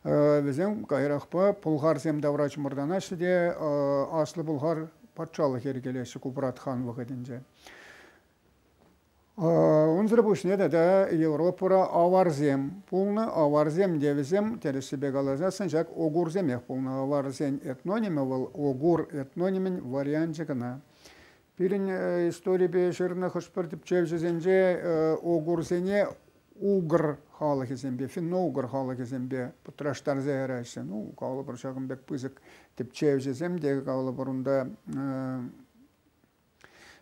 Вӗсем каярахпа пӑлхарсем тавра чӑмӑртанаҫҫӗ те Аслӑ Пӑлхар патшалӑх йӗркелеҫҫӗ Купрат хан вӑхӑтӗнче. Унсӑр пуҫне тата Европӑра аварсем пулнӑ. Аварсем те вӗсем, тӗрӗссипе каласан, ҫак огурсемех пулнӑ. Аварсен этнонимӗ вӑл огур этнонимӗн варианчӗ кӑна. Пирӗн историпе ҫырнӑ хӑш-пӗр тӗпчевҫӗсенче огурсене угр халӑхӗсемпе, финно-угр халӑхӗсемпе пӑтраштарса яраҫҫӗ. Ну, калӑпӑр, ҫакӑн пек пысӑк тӗпчевҫӗсем те, калӑпӑр, унта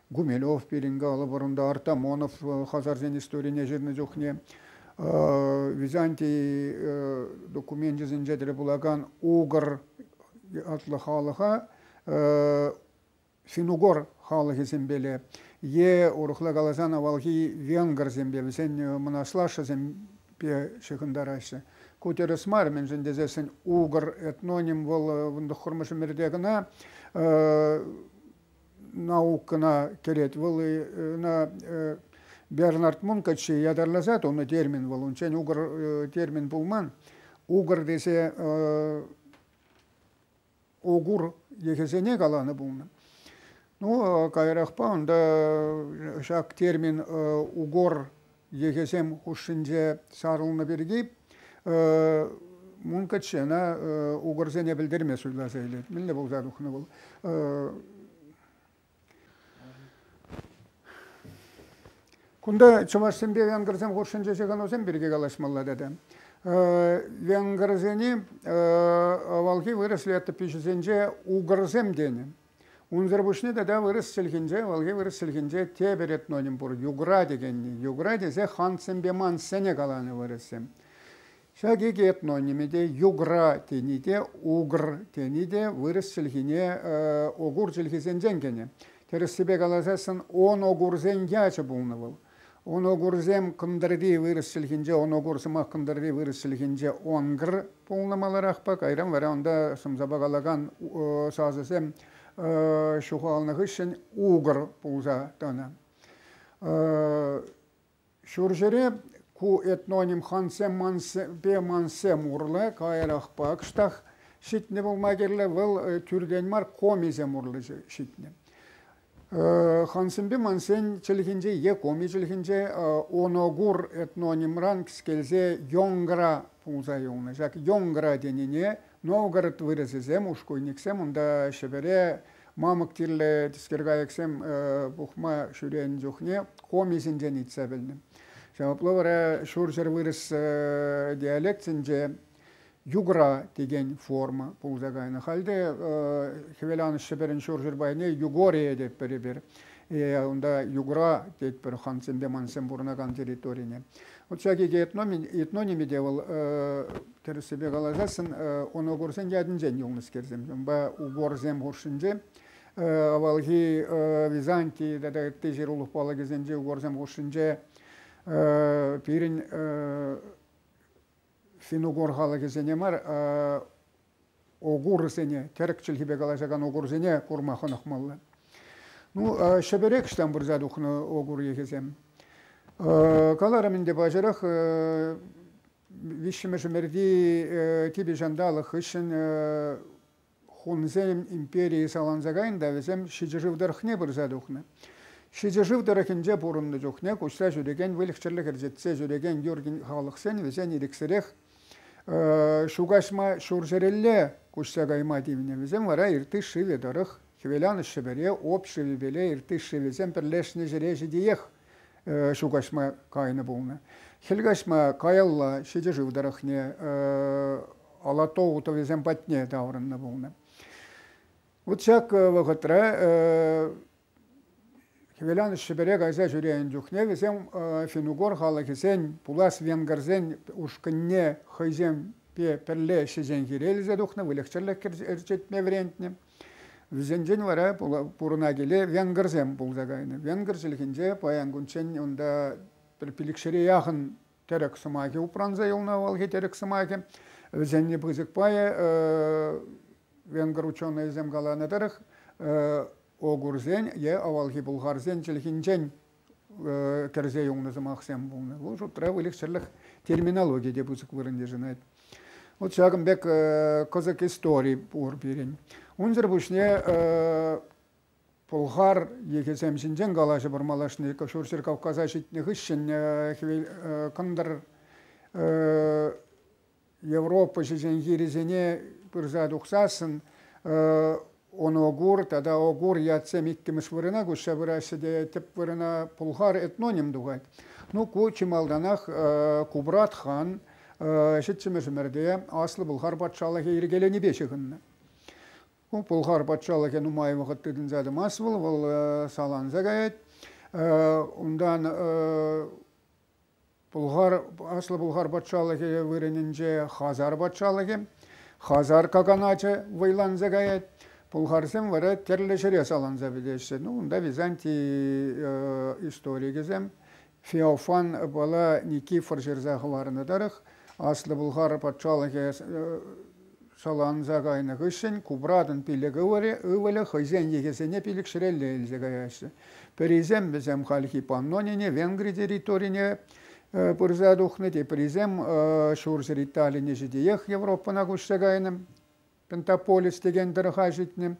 Гумилев пирӗн, калӑпӑр, унта Артамонов хазарсен историне ҫырнӑ чухне Византий докуменчӗсенче тӗл пулакан угр ятлӑ халӑха Синугор халӑхӗсемпеле е, урӑхла каласан, авалхи венгрсемпе, вӗсен мӑнаҫлашшӗсемпе ҫыхӑнтараҫҫӗ. Ку тӗрӗс мар, мӗншӗн тесессӗн угр этноним вӑл вунтӑххӑрмӗш ӗмӗрте кӑна наукӑна кӗрет. Вӑл ӑна Бернард Мункачи ятарласа тунӑ термин вӑл. Унччен угр термин пулман. Угр тесе Огур йӑхӗсене каланӑ пулнӑ. Ну, каярахпа унта ҫак термин угор йӑхӗсем хушшинче сарӑлнӑ пирки мункаччена угорсене пӗлтерме суйласа илет. Мӗнле пулса тухнӑ вӑл? Кунта чӑвашсемпе венгрсем хушшинче ҫыхӑнусем пирки калаҫмалла тата. Венгрсене авалхи вырӑс летопиҫӗсенче угрсем тенӗ. Унсӑр пуҫне тата вырӑс чӗлхинче, авалхи вырӑс чӗлхинче тепӗр этноним пур, югра текенни. Югра тесе хансемпе мансене каланӑ вырӑссем. Ҫак икӗ этнониме те югра тени те, угр тени те вырӑс чӗлхине, огур чӗлхисенчен кӗнӗ. Тӗрӗссипе каласан, оногурсен ячӗ пулнӑ вӑл. Оногурсем кӑнтӑрти вырӑс чӗлхинче, оногур сӑмах кӑнтӑрти вырӑс чӗлхинче онгр пулнӑ маларахпа, кайран вара унта шӑмсапа калакан сасӑсем ҫухалнӑ хыҫҫӑн угр пулса тӑнӑ. Ҫурҫӗре ку этноним хансем-мансемпе мансем урлӑ, каярахпа кӑштах ҫитнӗ пулма кирлӗ. Вӑл тӳртен мар комисем урлӑ ҫитнӗ. Хансемпе мансен чӗлхинче е коми чӗлхинче оногур этнонимран кӗскелсе йонгра пулса юлнӑ. Ҫак йонгра тенине Новгород вырӑсӗсем, ушкуйниксем унта Ҫӗпӗре мамӑк тиллӗ тискеркайӑксем пухма ҫӳренӗ чухне комисенчен илтсе пӗлнӗ. Ҫавӑпла вара ҫурҫӗр вырӑс диалектсенче югра текен форма пулса кайнӑ. Хальте Хӗвеланӑҫ Ҫӗпӗрӗн ҫурҫӗр пайне Югория тетпӗр эпир. Унта югра тетпӗр хансемпе мансем пурӑнакан территорине. Укҫа-тенкӗ этнонимӗ те вӑл тӗрӗссипе каласассӑн оногорсен ятӗнчен юлнӑскерсем. Унпа уборсем хушшинче авалхи Византий тата ытти ҫырулӑх палӑкӗсенчи уборсем хушшинче пирӗн финнугор халӑхӗсене мар Угурсене, тӗрӗк чӗлхипе калаҫакан угурсене курма хӑнӑхмалла. Ну, Ҫӗпӗрех ӑҫтан пырса тухнӑ угур йӑхӗсем? Каларӑм ӗнтӗ паҫӑрах, виҫҫӗмӗш ӗмӗрти типӗ ҫанталӑк хыҫҫӑн хунсем империйӗ саланса кайнӑ та вӗсем ҫичӗ-шыв тӑрӑхне пырса тухнӑ. Ҫичӗ-шыв тӑрӑхӗнче пурӑннӑ чухне куҫса ҫӳрекен выльӑх-чӗрлӗх ӗрчетсе ҫӳрекен юр халӑхсен вӗсен ирӗксӗрех Ҫукаҫма ҫурҫӗрелле куҫса кайма тивнӗ. Вӗсем вара иртыш шывӗ тӑрӑх Хӗвеланӑҫ Ҫӗпӗре об шывӗпеле иртыш шывӗсем пӗрлешнӗ ҫӗре ҫитиех ҫукаҫма кайнӑ пулнӑ. Хӗл каҫма каялла ҫичӗ шыв тӑрӑхне Алатоу тӑвӗсем патне таврӑннӑ пулнӑ. Вот ҫак вӑхӑтра Хӗвелан Ҫӗпӗре кайса ҫӳренӗ чухне вӗсем финнугор халӑхӗсен, пулас венгрсен ушкӑнне хӑйсемпе пӗрле ӗҫчен хирелесе тухнӑ, выльӑх-чӗрлӗх ӗрчетме вӗрентнӗ. Вӗсенчен вара пурӑна-киле венгрсем пулса кайнӑ. Венгр чӗлхинче паян кунччен унта пӗр пилӗкҫӗре яхӑн тӗрӗк сӑмахӗ упранса юлнӑ авалхи тӗрӗк сӑмахӗ. Вӗсенни пысӑк пайӗ Венгр ученӑйӗсем каланӑ тӑрӑх, огурсен е авалхи пӑлхарсен чӗлхинчен кӗрсе юлнӑ сӑмахсем пулнӑ. Вӑл шутра выльӑх-чӗрлӗх терминологи те пысӑк вырӑн йышӑнать. Вот ҫакӑн пек кӑсӑк истори пур пирӗн. Унсӑр пуҫне пӑлхар йӑхӗсем ҫинчен калаҫӑпӑр малашне Ҫурҫӗр Кавказа ҫитнӗ хыҫҫӑн кӑнтӑр Европа ҫӗҫен хирӗсене пырса тухсассӑн Оногур тата Огур ятсем иккӗмӗш вырӑна куҫса пыраҫҫӗ те тӗп вырӑна пулхар этноним тухать. Ну, ку чи малтанах Кубрат хан ҫиччӗмӗш ӗмӗрте Аслӑ Пӑлхар патшалӑхӗ йӗркеленипе ҫыхӑннӑ. Ку Пӑлхар патшалӑхӗ нумай вӑхӑт тытӑнса тӑмасть вӑл, вӑл саланса каять. Унтан Аслӑ Пулхар патшалӑхӗ вырӑнӗнче Хазар патшалӑхӗ, Хазар каганачӗ вӑйланса каять. Пулхарсем вара тӗрлӗ ҫӗре саланса пӗтеҫҫӗ. Ну, унта византий историкӗсем Феофан Никифор ҫырса хӑварнӑ тӑрӑх Аслӑ Пулхар патшалӑхӗ саланса кайнӑ хыҫҫӑн купратӑн пилӗк ывӑлӗ хӑйсен йӑхӗсене пилӗкҫӗрелле илсе каяҫҫӗ. Пӗрисем вӗсем хальхи Паннонине, Венгри территорине пырса тухнӑ, теприсем ҫурҫӗр Италине ҫитиех Европӑна куҫса кайнӑ, Пентаполис текен тӑрӑха ҫитнӗ.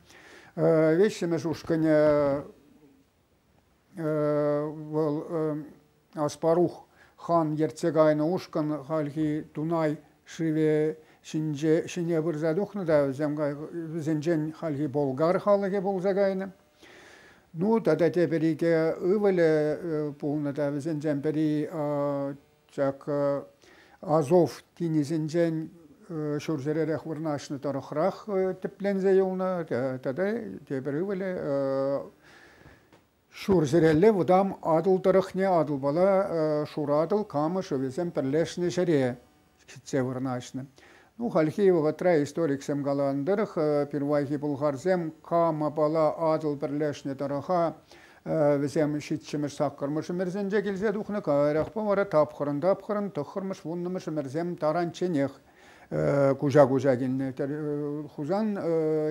Веҫҫӗмӗш ушкӑнӗ Вӑл Аспарух хан ертсе кайнӑ ушкӑн хальхи Дунай шывӗ ҫине пырса тухнӑ та вӗсенчен хальхи болгар халӑхӗ пулса кайнӑ. Ну тата тепӗр икӗ ывӑлӗ пулнӑ та вӗсенчен пӗри Ҫак Азов тинӗсӗнчен ҫурҫӗререх вырнаҫнӑ тӑрӑхрах тӗпленсе юлнӑ тата тепӗр ывӑлӗ ҫурҫӗрелле вӑтам Атӑл тӑрӑхне Атӑлпала Шуратӑл, Кама шывӗсем пӗрлешнӗ ҫӗре ҫитсе вырнаҫнӑ. Ну, хальхи вӑхӑтра историксем каланӑ тӑрӑх, пирвайхи пӑлхарсем кам апала Атӑл пӗрлешнӗ тӑрӑха вӗсем ҫиччӗмӗш, саккӑрмӗш ӗмӗрсенче килсе тухнӑ, каярахпа вара тапхӑрӑн-тапхӑрӑн, тӑххӑрмӗш, вуннӑмӗш ӗмӗрсем таранчченех куҫа-куҫа килнӗ. Хусан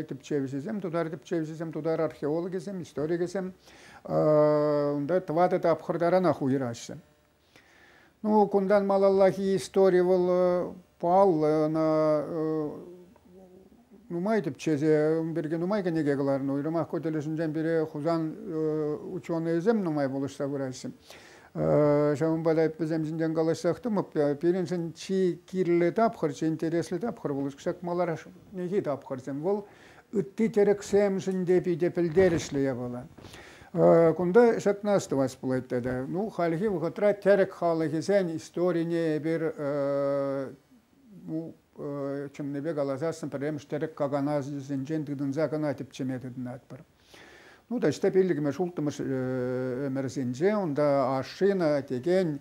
тӗпчевҫисем, тутар тӗпчевҫисем, тутар археологӗсем, историкӗсем унта тӑватӑ тапхӑр таранах уйӑраҫҫӗ. Ну, кунтан малаллахи истори вӑл паллӑ, ӑна нумай тӗпчесе, ун пирки нумай кӗнеке кӑларнӑ. Уйрӑмах ку тӗлӗшӗнчен пире Хусан ученӑйӗсем нумай пулӑшса пыраҫҫӗ. Ҫавӑнпа та вӗсем ҫинчен калаҫсах тӑмӑп. Пирӗншӗн чи кирлӗ тапхӑр, чи интереслӗ тапхӑр вӑл, кӑҫак малашнехи тапхӑрсем. Вӑл ытти тӗрӗксемшӗн те питӗ пӗлтерӗшлӗ япала. Кунта ҫакна астӑвас пулать тата. Ну, хальхи вӑхӑтра тӗрӗк халӑхӗсен историне эпир ну, чӑннипе каласассӑн пӗрремӗш тӗрӗк каканасӗсенчен тытӑнса кӑна тӗпчеме тытӑнатпӑр. Ну, таҫта пиллӗкмӗш, улттӑмӗш ӗмӗрсенче унта ашшина текен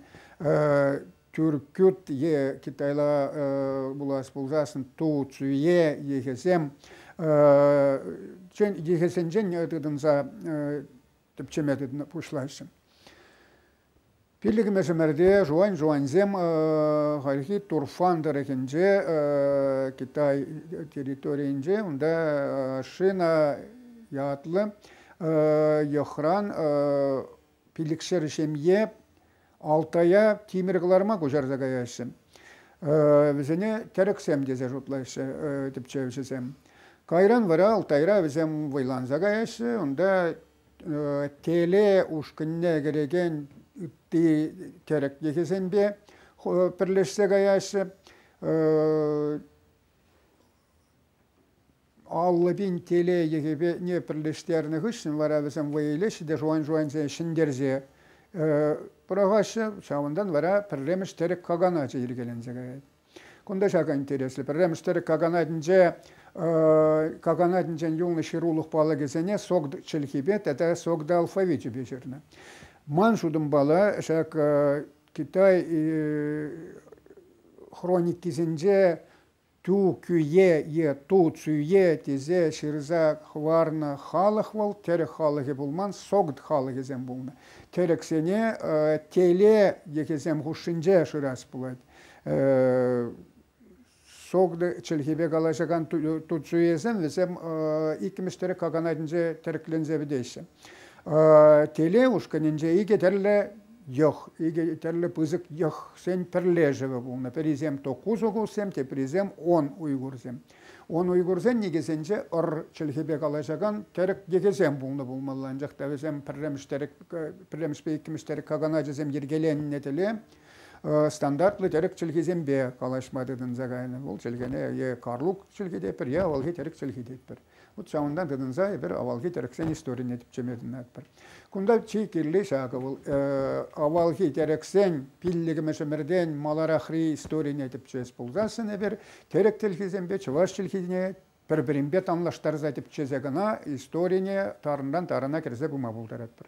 тӳрккют е Китайла пулас пулсассӑн ту цуе ехесем ехесенчен тытӑнса тӗпчеме пуҫлаҫҫӗ. Пиллӗкмӗшӗмӗрте жуан-жуансем хальхи Турфан тӑрӑхӗнче Китай территорийӗнче унта шина ятлӑ йӑхран пилӗкшер ҫемье Алтая тимӗр кӑларма куҫарса каяҫҫӗ. Вӗсене тӗрӗксем тесе шутлаҫҫӗ тӗпчевҫӗсем. Кайран вара Алтайра вӗсем вӑйланса каяҫҫӗ. Унта теле ушкӑнне кӗрекен ытти тӗрӗк йӑхӗсемпе пӗрлешсе каяҫҫӗ. Аллӑ пин телейӗхӗпе пӗрлештернӗ хыҫҫӑн вара вӗсем вӑй илеҫҫӗ те шуан-шуансен ҫӗнтерсе пӑрахаҫҫӗ. Ҫавӑнтан вара пӗрремӗш тӗрӗк каганачӗ йӗркеленсе каять. Кунта ҫакӑ интереслӗ. Пӗрремӗш тӗрӗк каганатӗнче каганатӗнчен юлнӑ ҫырулӑх палӑкӗсене сок чӗлхипе тата сокда алфавичӗпе ҫырнӑ. Ман шутӑмпала ҫак Китай хроникисенче Ту кӳе е ту цӳе тесе ҫырса хӑварнӑ халӑх вӑл тӗрӗк халӑхӗ пулман, согд халӑхӗсем пулнӑ. Тӗрӗксене теле йӑхӗсем хушшинче шырас пулать. Согды чӗлхепе калаҫакан туцуесем вӗсем иккӗмӗш тӗрӗк каканатӗнче тӗрекленсе пӗтеҫҫӗ. Телей ушкӑнӗнче икӗ тӗрлӗ йӑх, икӗ тӗрлӗ пысӑк йӑхсен пӗрлешӗвӗ пулнӑ. Пӗрисем то кусокуссем, теприсем он уйгурсем. Он уйгурсен никӗсенче ӑр чӗлхепе калаҫакан тӗрӗк йӑхӗсем пулнӑ пулмалла. Анчах та вӗсем пӗрремӗш тӗрӗк, пӗрремӗшпе иккӗмӗш тӗрӗк каганачӗсем йӗркеленнӗ тӗле стандартлӑ тӗрӗк чӗлхисемпе калаҫма тытӑнса кайнӑ. Вӑл чӗлхене е карлук чӗлхи те пӗр, е авалхи тӗрӗк чӗлхи тетпӗр. Вот ҫавӑнтан тытӑнса эпир авалхи тӗрӗксен историне тӗпчеме тытӑнатпӑр. Кунта чи кирли ҫакӑ вӑл авалхи тӗрӗксен пиллӗкмӗшӗмӗртен маларахри историне тӗпчес пулсассӑн эпир тӗрӗк чӗлхисемпе чӑваш чӗлхине пӗр-пӗринпе танлаштарса тӗпчесе кӑна историне тарӑнран тарӑна кӗрсе пыма пултаратпӑр.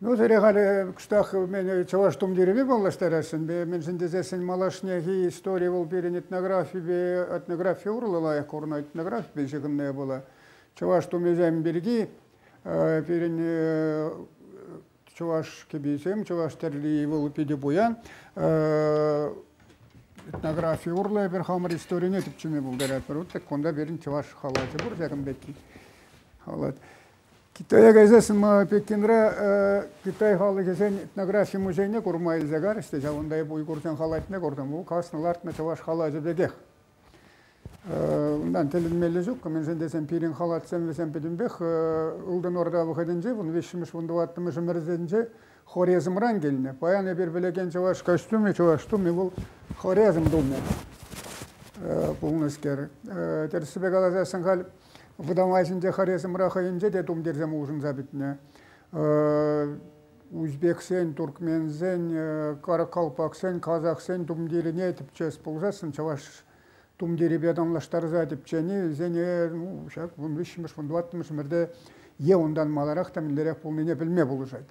Ну, сире халӗ кӑштах мӗн чӑваш тумтирӗпе паллаштарасшӑн. Мӗншӗн тесессӗн малашнехи истори вӑл пирӗн этнографипе, этнографи урлӑ лайӑх курӑннӑ, этнографипе ҫыхӑннӑ пулӑ. Чӑваш тумӗсем пирки пирӗн чӑваш кӗписем, чӑваш тӗрли вӑл питӗ пуян. Этнографи урлӑ эпир хамӑр историне тӗпчеме пултаратпӑр. Вот так кунта пирӗн чӑваш халачӗ пур ҫакӑн пекки. Китая кайсассӑн Пекинра Китай халӑхӗсен этнографи музейне курма илсе карӗҫ те ҫавӑнта эп уйгурсен халатне куртӑм. Вӑл каснӑ-лартнӑ чӑваш халачӗ пекех. Унтан тӗлӗнмелле ҫуккӑ мӗншӗн тесен пирӗн халатсем вӗсем пӗтӗмпех Ылтӑн Орда вӑхӑтӗнче, вун виҫҫӗмӗш, вун тӑваттӑмӗш ӗмӗрсенче Хорезмран килнӗ. Паян эпир вилекен чӑваш костюмӗ, чӑваш тумӗ вӑл Хорезм тумӗ пулнӑскер. Тӗрӗссипе каласассӑн халь Вӑтам Азинче, Хорезмра хӑйӗнче те тумтирсем улшӑнса пӗтнӗ. Узбексен, туркменсен, каракалпаксен, казахсен тумтирӗне тӗпчес пулсассӑн чӑваш тумтирӗпе танлаштарса тӗпчени вӗсене ну, ҫак вун виҫҫӗмӗш, вун тӑваттӑмӗш ӗмӗрте е унтан маларах та мӗнлерех пулнине пӗлме пулӑшать.